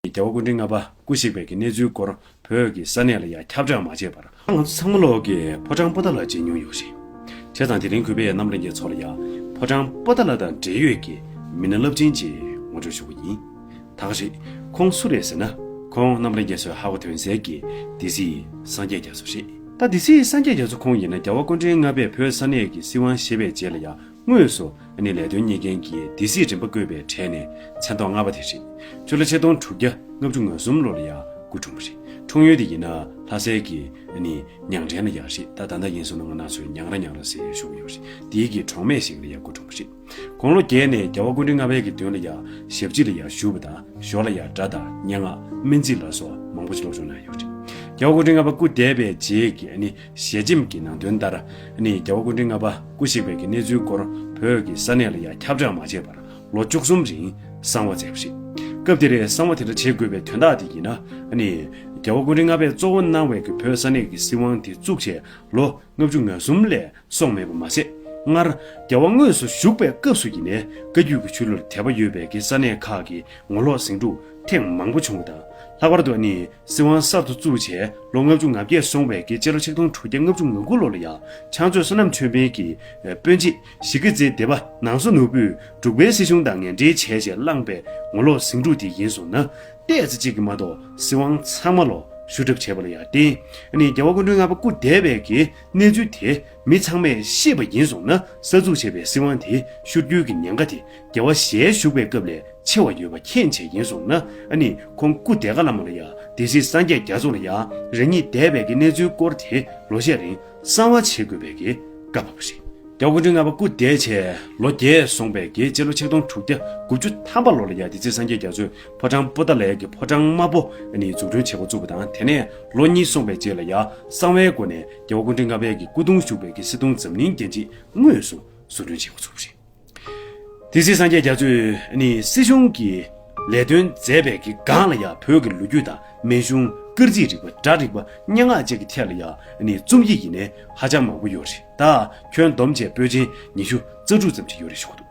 རྒྱལ་བ་སྐུ་ཕྲེང་ལྔ་པ་སྐུ་གཤེགས་པའི་གི་གནས་ཚུལ་སྐོར་བོད་ཀྱི་ས་གནས་ལ་ཡང་ཁྱབ་བསྒྲགས་མ་བྱས་པར། ང་ཚོ་ཚང་མ་ལོག་གི་ཕོ་བྲང་པོ་ཏཱ་ལ་བརྗེད་མྱོང་ཡོད་རེད། བྱས་ཙང་དེ་རིང་གུས་པའི་རྣམ་གླིང་གི་ཚོགས་ལ་ཡང་ཕོ་བྲང་པོ་ཏཱ་ལ་དང་འབྲེལ་ཡོད་ཀྱི་མི་སྣ་རླབས་ཆེན་གྱིས་ངོ་སྤྲོད་ཞུ་གི་ཡིན། ཐག་རིང་ཁོང་སུ་རེད་ཟེར་ན་ཁོང་རྣམ་གླིང་རྒྱ་སོའི་ཧ་གོ་དོན་གསལ་གྱི་སྡེ་སྲིད་སངས་རྒྱས་རྒྱ་མཚོ་རེད། ད་སྡེ་སྲིད་སངས་རྒྱས་རྒྱ་མཚོ་ཁོང་ཡིན་ན་རྒྱལ་བ་སྐུ་ཕྲེང་ལྔ་པས་བོད་ས་གནས་ཀྱི་སྲིད་དབང་ཞེས་པའི་རྗེས་ལ་ཡང་དངོས་སུ་ནི་ལས་དོན་གཉིས་ལྡན་གྱི་སྡེ་སྲིད་རིམ་པ་བསྐོས་པའི་གྲས་ནས་མཚན་ཐོག་ལྔ་པ་དེ་རེད། ཆུ་ལ་ཆེ་མཐོང་དྲུག་བརྒྱ་ལྔ་བཅུ་ང་གསུམ་ལོ་ལ་ཡང་སྐུ་འཁྲུངས་པ་རེད། འཁྲུངས་ཡུལ་དེ་ཡིན་ན་ལྷ་སའི་གི་ནི་ཉང་བྲན་ལ་ཡག་རེད་ད་ད་ནད་ཡིན་སོང་ན་ང་ནང་ཆོས་ཉང་ར་ཉང་ར་ཟེར་བཞུགས་ཡོད་རེད་དེའི་གི་གྲོང་སྨད་ཞིག་ལ་ཡང་སྐུ་འཁྲུངས་པ་རེད། དགུང་ལོ་བརྒྱད་ནས་རྒྱལ་བ་ཀུན་འདུས་ལྔ་བའི་གི་མདུན་ལ་ཡང་ཞབས་སྤྱི་ལ་ཡང་བཞུགས་པ་དང་ཞོར་ལ་ཡང་སྒྲ་དང་སྙན་ངག་སྨན་རྩིས་ལ་སོགས་མང་པོ་སྤྱི་སློབ་སྦྱོང་གནང་ཡོད་རེད། རྒྱལ་བ་ཀུན་འདུས་ལྔ་པ་སྐུ་འདས་པའི་རྗེས་ཀྱི་ནི་ཞལ་ཆེམས་ཀྱི་ནང་དོན་ལྟར་ནི་རྒྱལ་བ་ཀུན་དྲིན་ལྔ་པ་སྐུ་གཤེགས་པའི་གི་གནས་ཚུལ་སྐོར་བོད་ཀྱི་ས་གནས་ལ་ཡང་ཁྱབ་བསྒྲགས་མ་བྱས་པར་ལོ་བཅུ་གསུམ་རིང་གསང་བ་མཛད་པ་རེད། སྐབས་དེར་གསང་བ་དེ་འདྲ་བྱེད་དགོས་པའི་དོན་དག་དེ་ཡིན་ན་ནི། རྒྱལ་བ་ཀུན་དྲིན་ལྔ་པས་གཙོ་བོ་གནང་བའི་གི་བོད་ས་གནས་ཀྱི་སྲིད་དབང་དེ་བཙུགས་བྱས་ལོ་ལྔ་བཅུ་ང་གསུམ་ལས་སོང་མེད་པ་མ་ཟད། སྔར་རྒྱལ་བ་དངོས་སུ་བཞུགས་པའི་སྐབས་སུ་ཡིན་ནས་བཀའ་རྒྱུད་ཀྱི་ཆོས་ལུགས་ལ་དད་པ་ཡོད་པའི་གི་ས་གནས་ཁག་གི་ངོ་ལོག་ཟིང་འཁྲུག་ཐེངས་མང་པོ་བྱུང་བ་དང། ལྷག་པར་དུ་ནི་སྲིད་དབང་གསར་དུ་བཙུགས་རྗེས་ལོ་ལྔ་བཅུ་ང་བརྒྱད་སོང་བའི་སྐེ་སྤྱི་ལོ་ཆིག་སྟོང་དྲུག་བརྒྱ་ལྔ་བཅུ་ང་དགུ་ལོ་ལ་ཡང་ཕྱག་མཛོད་བསོད་ནམས་ཆོས་འཕེལ་གྱིས་དཔོན་སྤྱི་གཞིས་ཀྱི་རྩེ་སྡེ་བ་ནང་སོ་ནོར་བུས་འབྲུག་པའི་སྲིད་གཞུང་དང་ངན་འབྲེལ་བྱས་རྗེས་བླངས་པའི་ངོ་ལོག་ཟིང་འཁྲུག་དེ་ཡིན་སོང་ན། ལྟས་ཚེ་གཅིག་གིས་མ་གཏོགས་སྲིད་དབང་ཚང་མ་ལོག་ཞུ་གྲབས་བྱས་པ་ལ་ཡང་བརྟེན་ནས་རྒྱལ་བ་སྐུ་མགྲོན་ལྔ་པ་སྐུ་འདས་པའི་གི་གནས་ཚུལ་དེ་མི་ཚང་མས་ཤེས་པ་ཡིན་སོང་ན་གསར་འཛུགས་བྱས་པའི་སྲིད་དབང་དེ་ཤུར་བསྐྱུར་གྱི་ཉེན་ཁ་དེ་རྒྱལ་བ་ཞལ་བཞུགས་པའི་སྐབས་ལས་ཆེ་བ་ཡོད་པ་མཁྱེན་བྱས་ཡིན་སོང་ན་ཨ་ནི་ཁོང་སྐུ་དེ་ཀ་བླ་མ་ལ་ཡང་སྡེ་སྲིད་སངས་རྒྱས་རྒྱ་མཚོ་ལ་ཡང་རང་ཉིད་འདས་པའི་གི་གནས་ཚུལ་སྐོར་དེ་ལོ་ཤས་རིང་གསང་བ་བྱེད་དགོས་པའི་གི་བཀའ་བབས་པ་རེད། རྒྱ་གུང་ཁྲན་ལྔ་པ་སྐུ་འདས་བྱས་ལོ་བརྒྱད་སོང་པའི་གི་སྤྱི་ལོ་ཆིག་སྟོང་དྲུག་བརྒྱ་དགུ་བཅུ་ཐམ་པ་ལོ་ལ་ཡང་སྡེ་སྲིད་སངས་རྒྱས་རྒྱ་མཚོས་ཕོ་བྲང་སྤོ་ཏཱ་ལའི་གི་ཕོ་བྲང་དམར་པོ་ཨ་ནི་འཛུགས་སྐྲུན་བྱེད་འགོ་བཙུགས་པ་དང་དེ་ནས་ལོ་གཉིས་སོང་པའི་རྗེས་ལ་ཡང་གསང་བའི་སྒོ་ནས་རྒྱལ་བ་ཀུན་འདྲེ་ལྔ་བལ་གྱི་སྐུ་གདུང་བཞུགས་པའི་གྱི་སི་ཏུང་འཛམ་གླིང་རྒྱན་ཁྲི་དངོས་སུ་བཟོ་སྐྲུན་བྱས་པ་ཚུགས་པ་རེད། དེ་སྲིད་སངས་རྒྱས་རྒྱ་མཚོས་ནི་སྲིད་གཞུང་གི་ལས་དོན་མཛད་པའི་གི་སྒང་ལ་ཡང་བོད་ཀྱི་ལོ་རྒྱུས་དང་མན་ཞུང་སྐར་རྩིས་རིག་པ་སྒྲ་རིག་པ་སྙན་ངག་བཅས་ཀྱི་ཐད་ལ་ཡང་ནི་རྩོམ་ཡིག་ཡིན་ནས་ཧ་ཅང་མང་པོ་ཡོད་རེད་ད་ཁྱོན་བསྡོམས་བྱས་པོད་ཆེན་ཉི་ཤུ་རྩ་དྲུག་ཙམ་ཅིག་ཡོད་རེད་ཞུ་གི་འདུག།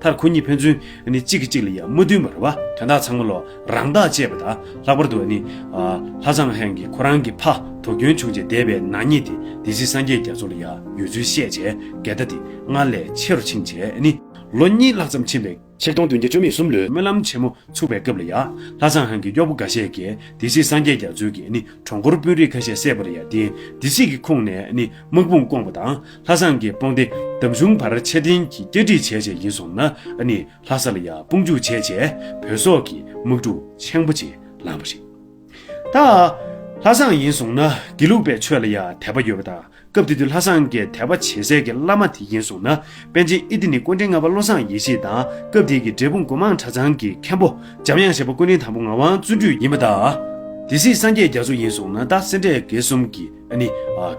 མཐར་ཁོ་གཉིས་ཕན་ཚུན་ནི་གཅིག་གིས་གཅིག་ལ་ཡང་མ་བསྟུན་པར་བ་དོན་དག་ཚང་མ་ལོ་རང་རྟགས་བཅས་པ་དང་ལྷག་པར་དུ་ནི། ལྷ་བཟང་ཧན་གྱིས་ཁོ་རང་གི་ཕ་གྲོ་གྱོན་ཆུང་བྱས་འདས་པའི་ནག་ཉེས་དེ་སྡེ་སྲིད་སངས་རྒྱས་རྒྱ་མཚོ་ལ་ཡང་ཡོད་ཚུལ་བཤད་བྱས་འགལ་ཟླ་དེ་སྔར་ལས་ཆེ་རུ་ཕྱིན་རྗེས་ནི། ལོ་གཉིས་ལྷག་ཙམ་ཕྱིན་པའི། ཕྱིར་སྟོང་བདུན་བརྒྱ་བཅོ་ལྔས་གསུམ་ལོའི་སྨོན་ལམ་ཆེན་མོ་ཚུགས་པའི་སྐབས་ལ་ཡང། ལྷ་བཟང་ཧན་གྱི་གཡོག་པོ་འགའ་ཤས་ཀྱིས་སྡེ་སྲིད་སངས་རྒྱས་རྒྱ་མཚོའི་གིས་ནི་གྲོང་འཁོར་དཔོན་རིགས་ཁ་ཤས་བསད་པ་ལ་ཡང་དེ་སྡེ་སྲིད་ཀྱི་ཁོངས་ནས་ནི་དམག་དཔུང་བསྐོངས་པ་དང། ལྷ་བཟང་གི་དཔུང་སྡེ་འདམ་གཞུང་བར་ཆད་བརྟན་གྱིས་བསྐྱར་སྒྲིག་བྱས་རྗེས་ཡིན་སོང་ན་ནི་ལྷ་ས་ལ་ཡང་དཔུང་འཇུག་བྱས་རྗེས་བོད་སོག་གི་དམག་འཁྲུག་ཆེན་པོ་ཅིག་ལངས་པ་རེད། ད་ལྷ་བཟང་ཡིན་སོང་ན་དགེ་ལུགས་པའི་ཆོས་ལ་ཡང་དད་པ་ཡོད་པ་དང་སྐབས་དེ་དུས་ལྷ་བཟང་གི་དད་པ་ཇེ་གསལ་གྱི་བླ་མ་དེ་ཡིན་སོང་ན་པན་ཆེན་ཨི་ཏི་ནི་སྐུ་འཕྲེང་ལྔ་པ་བློ་བཟང་ཡེ་ཤེས་དང་སྐབས་དེ་གི་འབྲས་སྤུངས་སྒོ་མང་གྲྭ་ཚང་གི་མཁན་པོ་འཇམ་དབྱངས་བཞད་པ་སྐུ་འཕྲེང་དང་པོ་ངག་དབང་བརྩོན་འགྲུས་ཡིན་པ་དང། དེ་སྲིད་སངས་རྒྱས་རྒྱ་མཚོ་ཡིན་སོང་ན་ད་སེ་འབྲས་དགེ་གསུམ་གྱི། ནི།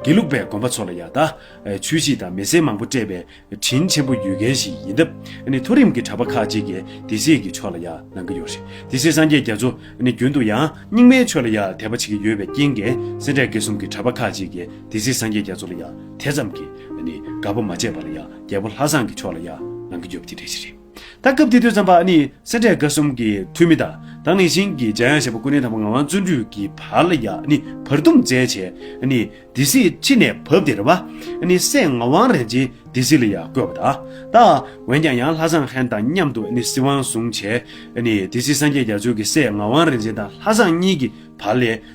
དགེ་ལུགས་པའི་དགོན་པ་ཚོ་ལ་ཡང་དག་ཇུས་གཅིག་དང་མི་སེར་མང་པོ་སྤྲད་པའི་དྲིན་ཆེན་པོ་ཡོད་མཁན་ཞིག་ཡིན་སྟབས་ནི་མཐོ་རིམ་གྱི་གྲྭ་པ་ཁག་ཅིག་གིས་དེ་སྲིད་ཀྱི་ཆོས་ལ་ཡང་གནང་གི་ཡོད་རེད་དེ་སྲིད་སངས་རྒྱས་རྒྱ་མཚོ་ནི་རྒྱུན་དུ་ཡང་རྙིང་མའི་ཆོས་ལ་ཡང་དད་པ་བྱེད་ཀྱི་ཡོད་པའི་རྐྱེན་གྱིས་སེ་འབྲས་དགེ་གསུམ་གྱི་གྲྭ་པ་ཁག་ཅིག་གིས་དེ་སྲིད་སངས་རྒྱས་རྒྱ་མཚོ་ལ་ཡང་དེ་ཙམ་གྱིས་ནི་དགའ་པོ་མ་བྱས་པར་ཡང་རྒྱལ་པོ་ལྷ་བཟང་གི་ཆོས་ལ་ཡང་གནང་གི་ཡོད་པ་དེ་འདྲ་ཞིག་རེད། ད་སྐབས་དེ་དུས་བརྩམས་པ་ནི་སེ་འབྲས་དགའ་གསུམ་གྱི་འཐུས་མི་དང་ནི་ཞིང་གི་འཇའ་ཡང་ཞེས་པ་སྐུ་ནི་དམ་པ་ངག་དབང་བརྩོན་འགྲུས་ཀྱི་བར་ལ་ཡང་ནི་བར་འདུམ་མཛད་བྱས་ནི་སྡེ་སྲིད་ཕྱི་ནས་བབས་ཏེ་རེ་བ་ནི་སེ་ངག་དབང་རིན་ཆེན་སྡེ་སྲིད་ལ་ཡང་བསྐོས་པ་དང། ད་འོན་ཀྱང་ཡང་ལྷ་བཟང་ཧན་དང་མཉམ་དུ་ནི་སྲིད་དབང་བཟུང་བྱས་ནི་སྡེ་སྲིད་སངས་རྒྱས་རྒྱ་མཚོས་ཀྱི་སེ་ངག་དབང་རིན་ཆེན་དང་ལྷ་བཟང་གཉིས་ཀྱི་བར་ལས།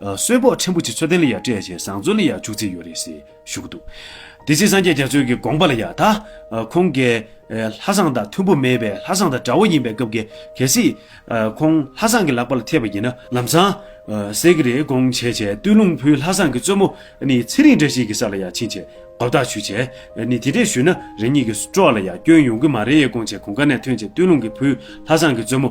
གསོལ་ཕོགས་ཕྲན་བུ་ཆེ་ཚོད་ལྡན་ལ་ཡང་སྤྲད་བྱས་བཟང་བཙོན་ལ་ཡང་བཅུག་རྩིས་ཡོད་རེད་ཟེར་ཞུ་གི་འདུག་དེ་ཚེ་སངས་རྒྱས་རྒྱ་མཚོས་ཀྱི་དགོངས་པ་ལ་ཡང་ད་ཁོང་གལ། ལྷ་བཟང་དང་མཐུན་པོ་མེད་པས་ལྷ་བཟང་དང་དགྲ་བོ་ཡིན་པའི་སྐབས་ཀྱི་གལ་སྲིད། ཁོང་ལྷ་བཟང་གི་ལག་པ་ལ་ཐེབས་པ་ཡིན་ན། ལམ་བཟང། ཟེར་གི་རེད་དགོངས་བྱས་བྱས་བསྟོད་ལུང་ཕུལ་ལྷ་བཟང་གི་བཙོན་མོ་ནི་ཚེ་རིང་བཀྲ་ཤིས་ཀྱི་ས་ལ་ཡང་ཕྱིན་བྱས་དགོ་བརྡ་ཞུ་བྱས་ནི་དེ་འདྲས་ཞུས་ན་རང་ཉིད་ཀྱི་སྤྲོ་བ་ལ་ཡང་སྐྱོན་ཡོང་གི་མ་རེད་དགོངས་བྱས་གོང་ཀ་ནས་ཐོན་བྱས་བསྟོད་ལུང་གི་ཕུལ་ལྷ་བཟང་གི་བཙོན་མོ།